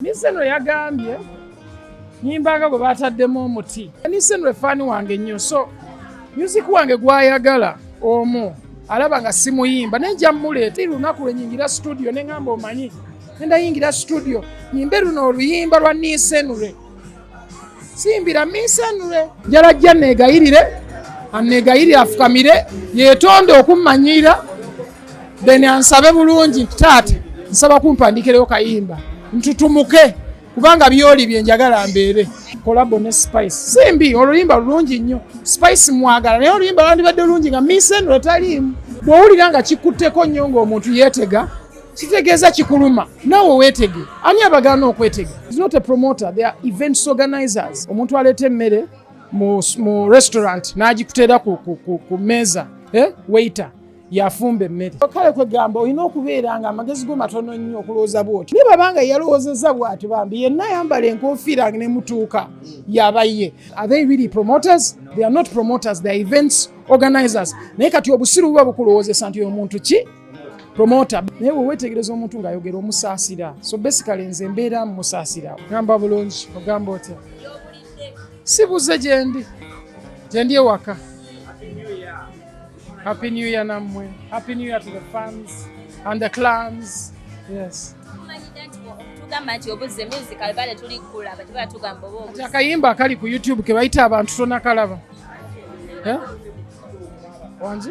Niseno yagambye nyimbanga bwe baataddemu omuti. Niseno efaani wange nnyo so music wange gwayagala omu alaba nga simuyimba naye nja mmuleeta lunaku lwe nyingira studio ne ngamba omanyi nenda yingira studio nyimbe luno oluyimba lwa Nisenure. simbira minsanule njala jja negayirire anegayirire afukamire yetonde okummanyiira then ansabe bulungi nti taata nsaba kumpandikireyo kayimba ntutumuke kubanga byoli byenjagala mbeere kolabo ne spice simbi oluyimba lulungi nnyo spice mwagala naye oluyimba lwandibadde lulungi nga minsanule taliimu bwowulira nga kikutteko nnyo ngaomuntu yeetega kitegeeza kikuluma naawe weetege ani abagaana okwetega is not a promoter they are events organizers omuntu aleeta emmere mu, mu restaurant n'agikuteera ku, ku, ku, ku meeza eh? waiter yafumba emmere kale kwegamba olina okubeera nga amagezi go matono nnyo okulowooza bwoti naye babanga yalowoozeza bwati bambi yenna ayambala enkofiira nga nemutuuka yaba ye are they really promoters they are not promoters they are events organizers naye kati obusiru buba bukulowoozesa nti omuntu ki promota naye wewetegereza omuntu ng'ayogera omusaasira so basically nze mbeera musaasira gamba bulungi ogamba otya sibuze gyendi gyendi ewaka happy new year nammwe happy new year to the fans and the clans yes akayimba akali ku youtube kebayita abantu tonakalaba eh? wangi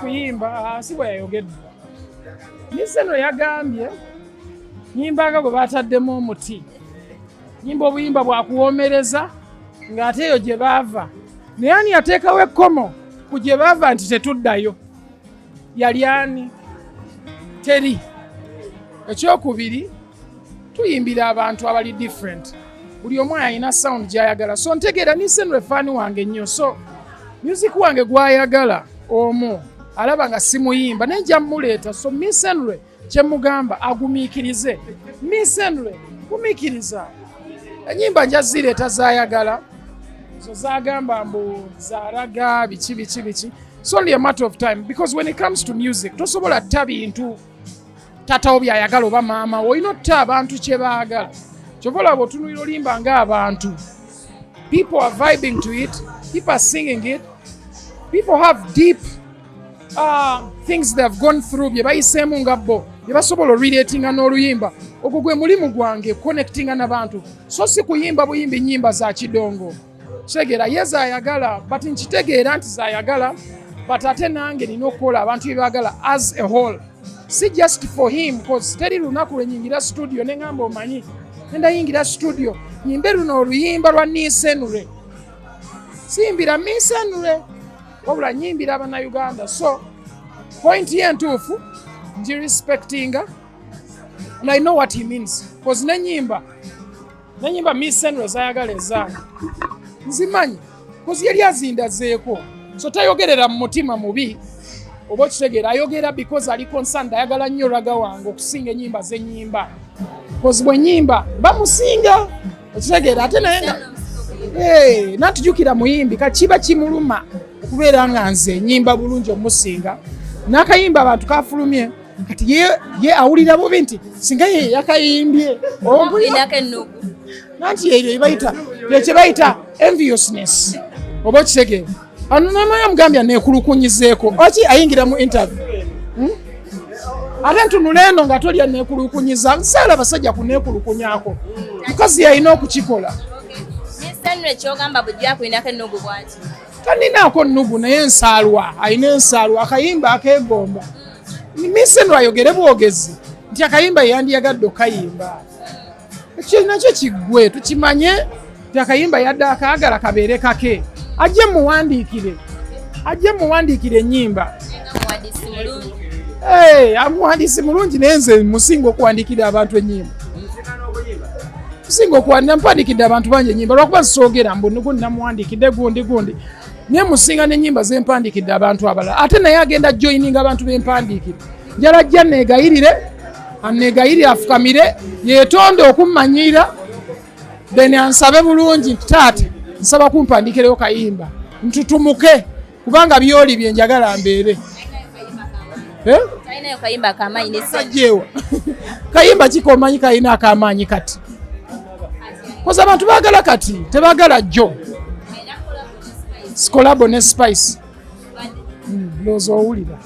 kuyimba ah, si bwe yayogedde miseno yagambye nyimbanga gwe bataddemu omuti nyimba obuyimba bwakuwomereza ng'ate eyo gye baava naye ani yateekawo ekkomo ku gye baava nti tetuddayo yali ani teri ekyokubiri tuyimbira abantu abali different buli omu ayina sound gyayagala so ntegeera nisenre faani wange nnyo so music wange gwayagala omu alaba nga simuyimba naye nja muleeta so misenre kyemugamba agumiikirize misenre gumiikiriza enyimba njazireeta zayagala zo zagamba mbu zaraga biki biki biki it's only a matter of time because when it comes to music tosobola tta bintu tatawo byayagala oba maama olina otta abantu kyebaagala kyova olaba otunulira olimba ngaabantu people are vibing to it people are singing it people have deep um, things they have gone through bye bayiseemu nga bo bye basobola orelatinga n'oluyimba ogwo gwe mulimu gwange connectinga nabantu so si kuyimba buyimba enyimba za kidongo kitegeera ye zayagala but nkitegeera nti zayagala but ate nange nina okukola abantu byebagala as a whole si just for him bcause teri lunaku lwenyingira studio nengamba omanyi nendayingira studio yimbe luno oluyimba lwa nisenure siyimbira misenure wabula nyimbira abanauganda so point ye ntuufu ngi respectinga and i know what he means bcause nenyimba nenyimba miss senro zayagala ezaange nzimanyi bcause yali azindazeeko so tayogerera mu mutima mubi oba okitegeera ayogera because ali concerned ayagala nnyo raga wange okusinga enyimba zenyimba bcause bwenyimba bamusinga okitegeera ate naye nga eh, natujukira muyimbi kakiba kimuluma okubeera nga nze nyimba bulungi omusinga nakayimba abantu kafulumye kati ye awulira bubi nti singa ye yakayimbye nanti ebyo byebayita enviousness oba okitegeera anonamaya mugambya nekulukunyizeeko oki ayingira mu interview hmm? ate ntunula eno nga tolya nekulukunyiza nsaala basajja kunekulukunyako mukazi yalina okukikola taninaako nnugu naye nsaalwa alina ensaalwa akayimba akegomba misenro ayogere bwogezi nti akayimba yeyandiyagadde okayimba ekyo nakyo kiggwe tukimanye akayimba yadde akaagala kabeere kake ajje muwandiikire ajje muwandiikire ennyimba amuwandiisi mulungi naye nze musinga okuwandiikira abantu ennyimba musinga okuwandiira mpandiikidde abantu bangi ennyimba lwakuba zisoogera mbu nigundi namuwandiikidde gundi gundi naye musinga n'ennyimba zempandiikidde abantu abalala ate naye agenda joininga abantu bempandiikire njala jja neegayirire anneegayirire afukamire yeetonde okummanyiira then ansabe bulungi nti taata nsaba kumpandikireyo kayimba ntutumuke kubanga byoli bye njagala mbeere eh? sajjeewa kayimba kikomanyi kalina akamaanyi kati koza abantu bagala kati tebagala jjo sikolabo ne spice hmm, looza owulira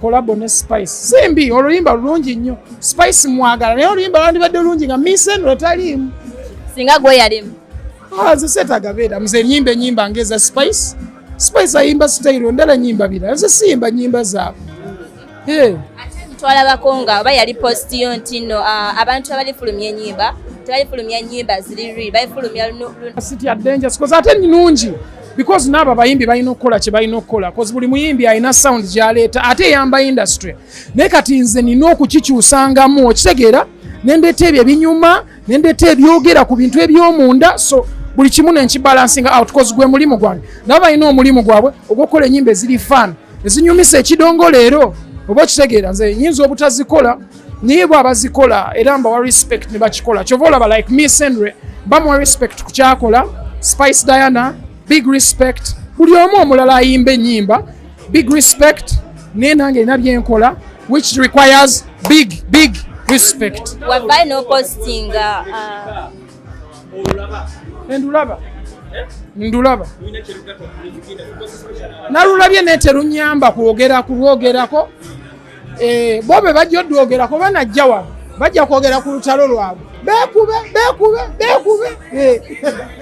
kolabo ne spice simbi oluyimba lulungi nnyo spice mwagala naye oluyimba lwandibadde lulungi nga miseno etaliimu singa gweyalimu ah, nze seetaga beera mze enyimba enyimba ngaeza spice spice ayimba sitayiro ndala nyimba birala nze siyimba nyimba zaabwe eh. twalabako nga oba yali posti yo nti no ah, abantu abalifulumya enyimba tebalifulumya nyimba ziri ri balifulumya sitya denja sikoze ate nungi because naabo abayimbi balina okukola kye balina okukola bcause buli muyimbi alina sound gyaleeta ate eyamba industry naye kati nze nina okukikyusangamu okitegeera nendeeta ebyo ebinyuma nendeeta ebyogera ku bintu ebyomunda so buli kimu nenkibalansinga out bcause gwe mulimu gwange nabo balina omulimu gwabwe ogwokukola enyimba eziri fan ezinyumisa ekidongo leero oba okitegeera nze nyinza obutazikola naye bwe abazikola era mbawa respect ne bakikola kyova olaba like mi senre bamuwa respect ku kyakola spice diana big respect buli omu omulala ayimba enyimba big respect naye nange erina byenkola which requires big big respect wavayo nopostinga uh, endulaba ndulaba nalulabye neterunyamba kwogera kulwogerako Eh, bo be bajja odwogera kuba najja wano bajja kwogera ku lutalo lwabwe bekube bekube bekube eh.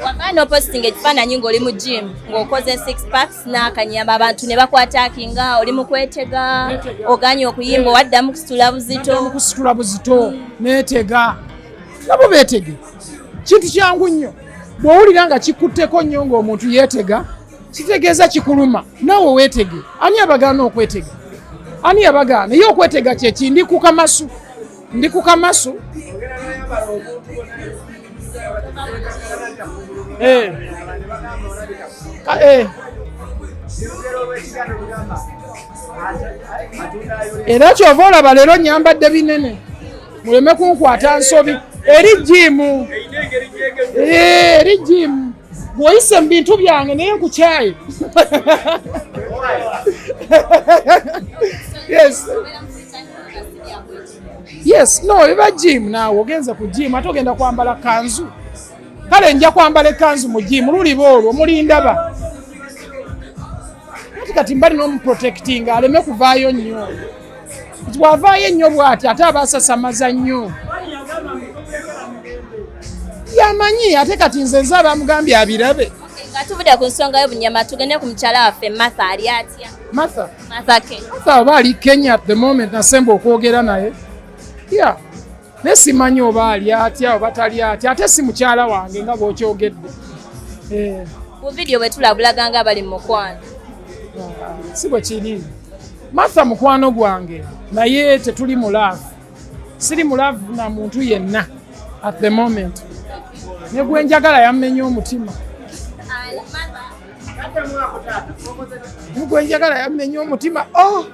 wabana opositinga ekifaananyi ngaoli mu gym ngaokoze six packs nakanyamba abantu ne bakwataki nga oli mukwetega oganye okuyimba owaddamu kusitula buzito kusitula buzito netega nabo betege kintu kyangu nnyo bwowulira nga kikutteko nnyo ngaomuntu yetega kitegeeza kikuluma nawe wetege ani abagaana okwetega ani yabagaana ye okwetega kyeki ndi ku kamasu ndi ku kamasu eh. eh. era kyova olaba leero nyambadde binene muleme kunkwata nsobi eri jimu eh, eri jimu Woyise mu bintu byange naye nkukyaye. Yes. Yes, no, biba gym naawe ogenze ku gym ate ogenda kwambala kanzu. Kale nja kwambala ekanzu mu gym luliba olwo mulindaba. Kati kati mbali n'omuprotectinga aleme kuvaayo nnyo. bwavaayo ennyo bwati ate abasasamaza nnyo yamanyi ate kati nze nze abamugambye abirabe nga tuvudde ku nsonga y'obunyama tugende ku mukyala waffe matha ali atya matha matha oba ali kenya the moment nasemba okwogera naye ya yeah. naye simanyi oba ali atya oba tali atya ate si mukyala wange nga bwokyogedde eh. ku vidiyo bwetulabulaga nga bali mumukwano ah, si bwe kiri martha mukwano gwange naye tetuli mulaavu siri mulaavu na muntu yenna at the moment ne gwenjagala yammenya omutima gwenjagala yammenya omutima oh!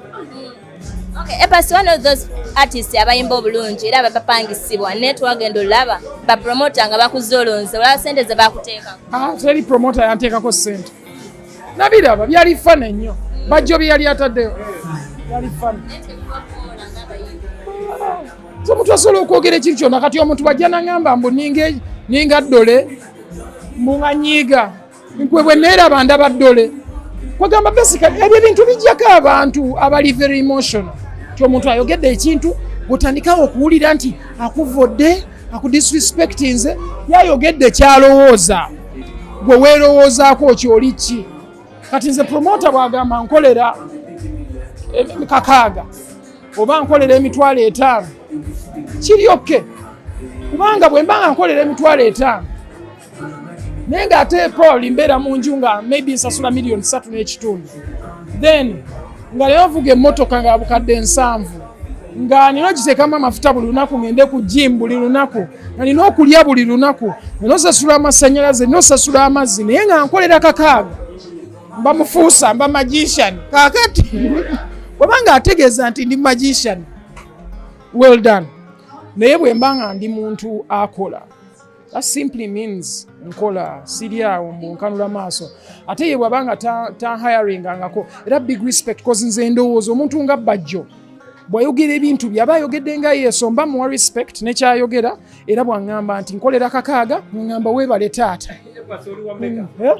Okay, Epasi one of those artists abayimba obulungi era abapangisibwa naye twagenda olaba bapromota nga bakuzza olonze olaba sente ze bakuteekako ah, teri promota yanteekako sente nabiraba byali fana ennyo bajjo bye yali ataddeyo byali fana so omuntu asobola okwogera ekintu kyona kati omuntu bajja nangamba mbu ninga dole mbunganyiiga gwe bwe neeraba ndaba ddole kwegamba basically ebyo ebintu bijjako abantu abali very emotional ti omuntu ayogedde ekintu gutandikawo okuwulira nti akuvodde akudisrespectinze yayogedde kyalowooza gwe weerowoozaako kyoli ki kati nze promota bwagamba nkolera eh, kakaaga oba nkolera emitwalo etaano kiryokke kubanga bwe mba nga nkolera emitwalo etaano naye nga ate probably mbeera mu nju nga maybe nsasula million satu n'ekitundu then nga leero nvuga emmotoka nga bukadde nsanvu nga nina okiteekamu amafuta buli lunaku ngende ku jimu buli lunaku nga nina okulya buli lunaku nina osasula amasanyalaze nina osasula amazzi naye nga nkolera kakaaga mba mufuusa mba magician kakati waba nga ategeeza nti ndi magician well done naye bwe mba nga ndi muntu akola That simply means nkola siri awo mbu nkanula maaso ate ye bwaba nga tanhiringangako ta era big respect cause nze ndowooza omuntu nga bajjo bwayogera ebintu byaba ayogedde nga yesu mba muwa respect nekyayogera era bwangamba nti nkolera kakaaga ngamba webale taata hmm, eh?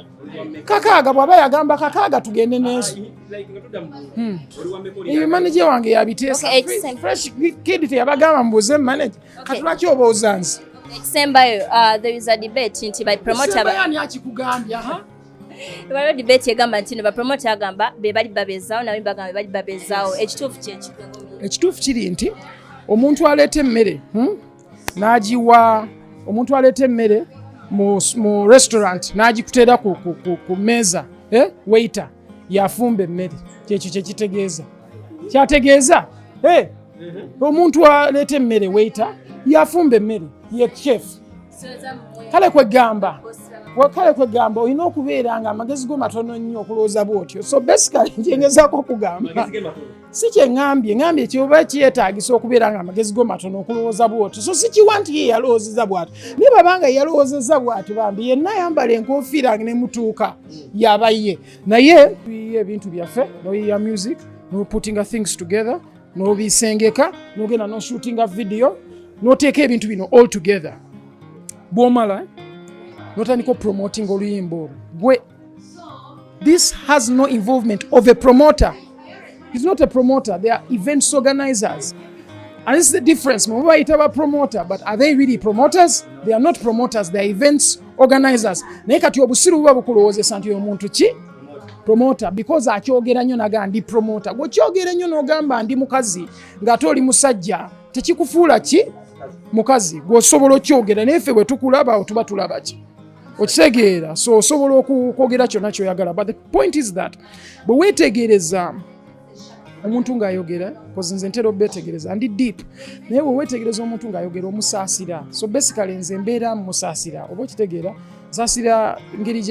kakaaga bwaba yagamba kakaaga tugende nesu hmm. eyo manaje wange yabiteesa kid teyabagamba mbuze manaje Kati lwaki obooza nze? Ekisembayo uh, there is a debate nti by promoter ba Ani akikugambya ha? Waliwo debate egamba nti no ba promoter agamba be bali babezawo nawe bagamba bali babezawo ekituufu kye kiki? Ekituufu kiri nti omuntu aleeta emmere hmm? n'agiwa omuntu aleeta emmere mu restaurant n'agikuteera ku mmeeza eh? waiter yafumba emmere kyekyo kyekitegeeza kyategeeza eh, omuntu aleeta emmere weita yafumba emmere ye chef kale kwegamba kale kwegamba olina okubeera nga amagezi go matono nnyo okulowooza bwotyo so basically nkyengezako okugamba si kye ŋambye ŋambye nti oba kyetaagisa okubeera nga amagezi go matono okulowooza bwoti so sikiwa nti ye yalowoozeza bwati naye babanga yalowoozeza bwati bambi yenna ayambala enkofiira ne mutuuka yaba ye naye tuyiye ebintu byaffe noyiya music noputinga things together nobisengeka nogenda noshootinga vidiyo noteeka ebintu bino all together bwomala notandika opromotinga oluyimba olwo gwe This has no involvement of a promoter. He's not a promoter, they are events organizers. And this is the difference. Mumba itaba promoter, but are they really promoters? They are not promoters, they are events organizers. Naye kati obusiru buba bukulowozesa nti omuntu ki promoter because akyogera nnyo naga ndi promoter. Gwokyogera nnyo n'ogamba ndi mukazi ng'ate oli musajja tekikufuula ki mukazi gwosobola okyogera naye ffe bwe tukulaba otuba tulaba ki okitegeera so osobola okwogera kyonna kyoyagala but the point is that bwe weetegereza omuntu ng'ayogera kozi nze ntera obetegereza ndi deep naye bwe weetegereza omuntu ng'ayogera omusaasira so basically nze mbeera musaasira oba okitegeera saasira ngeri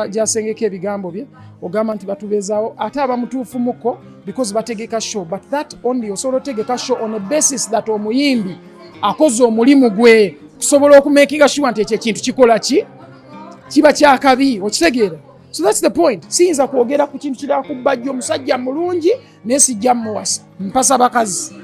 gyasengeka ebigambo bye ogamba nti batubeezaawo ate abamutuufu muko because bategeka show but that only osobola otegeka show on a basis that omuyimbi akoze omulimu gwe kusobola okumekinga shuwa nti ekyo ekintu kikola ki kiba kyakabi okitegeera so thats the point siyinza kwogera ku kintu kirala ku bajja omusajja mulungi naye sijja muwasa mpasa bakazi